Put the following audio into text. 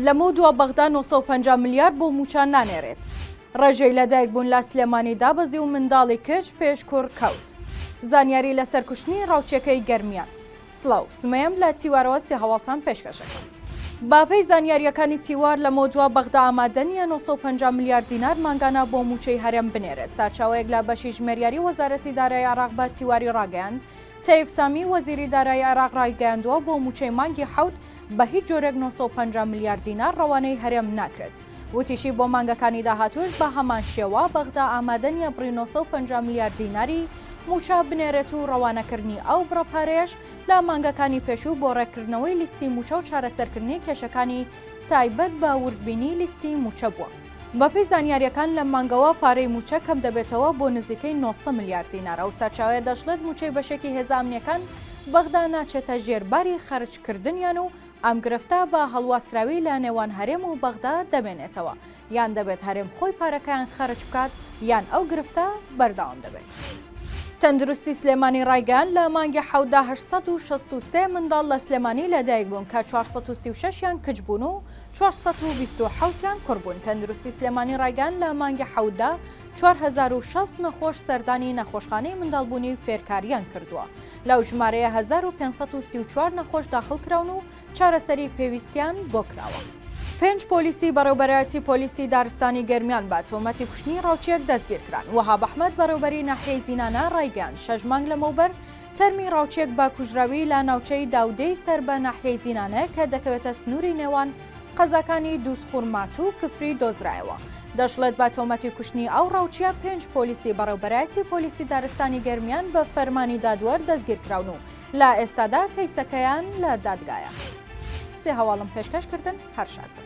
لەمەو دوا بەغدا 950 ملیار بۆ موچە نانێرێت ڕێژەی لەدایک بوون لە سلێمانی دابەزی و منداڵی کچ پێش کوڕ کەوت زانیاری لەسەر کوشتنی ڕاوچەکەی گەرمیان سڵاو، سومەیەم لە تیوارەوە سێ هەواڵتان پێشکەش ئەکەم. بە پێی زانیارییەکانی تیوار، لەمەودوا بەغدا ئامادە نییە نۆ سەد و پەنجا ملیار دینار مانگانە بۆ مووچەی هەرێم بنێرێت. سارچاوەیەک لە بەشی ژمێریاری وەزارەتی دارایی عێراق بە تیواری ڕاگەیاند، تەیف سامی، وەزیری دارایی عێراق ڕایگەیاندووە، بۆ مووچەی مانگی حەوت بە هیچ جۆرێک نۆ سەد و پەنجا ملیار دینار ڕەوانەی هەرێم ناکرێت. وتیشی بۆ مانگەکانی داهاتووش بە هەمان شێوە بەغدا ئامادە نییە بڕی نۆ سەد و پەنجا ملیار دیناری مووچە بنێرێت و ڕەوانەکردنی ئەو بڕە پارەیەش لە مانگەکانی پێشوو بۆ ڕێککردنەوەی لیستی مووچە و چارەسەرکردنی کێشەکانی تایبەت بە وردبینی لیستی مووچە بووە. بەپێی زانیارییەکان لەم مانگەوە پارەی مووچە کەمدەبێتەوە بۆ نزیکەی نۆ سەد ملیار دینار، ئەو سەرچاوەیە دەشڵێت مووچەی بەشێکی هێزە ئەمنییەکان بەغدا ناچێتە ژێر باری خەرجکردنیان و ئەم گرفتە بە هەڵواسراوی لە نێوان هەرێم و بەغدا دەمێنێتەوە، یان دەبێت هەرێم خۆی پارەکەیان خەرج بکات، یان ئەو گرفتە بەردەوام دەبێت. تەندروستی سلێمانی ڕایگەیاند، لە مانگی حەوتدا هەشت سەد و شەست و سێ منداڵ لە سلێمانی لەدایک بوون کە چوار سەد و سی و شەش یان کچ بوون و چوار سەد و بیست و حەوت یان کوڕ بوون. تەندروستی سلێمانی ڕایگەیاند، لە مانگی حەوتدا چوار هەزار و شەست نەخۆش سەردانی نەخۆشخانەی منداڵبوونی فێرکاریان کردووە. لەو ژمارەیە هەزار و پێنج سەد و سی و چوار نەخۆش داخڵکراون و چارەسەری پێویستیان بۆ کراوە. پێنج پۆلیسی بەڕێوبەرایەتی پۆلیسی دارستانی گەرمیان بە تۆمەتی کوشتنی ڕاوچییەک دەستگیرکران. وەهاب ئەحمەد بەڕێوبەری ناحیەی زینانە ڕایگەیاند شەش مانگ لەمەوبەر تەرمی ڕاوچییەک بە کوژراوی لە ناوچەی داودێی سەر بە ناحیەی زینانە کە دەکەوێتە سنووری نێوان قەزاکانی دووزخور ماتوو کفری دۆزرایەوە، دەشڵێت بە تۆمەتی کوشتنی ئەو ڕاوچییە پێنج پۆلیسی بەڕێوبەرایەتی پۆلیسی دارستانی گەرمیان بە فەرمانی دادوەر دەستگیرکراون و لە ئێستادا کەیسەکەیان لە دادگایە. سێ هەواڵم پێشکەش کردن هەر شاد بن.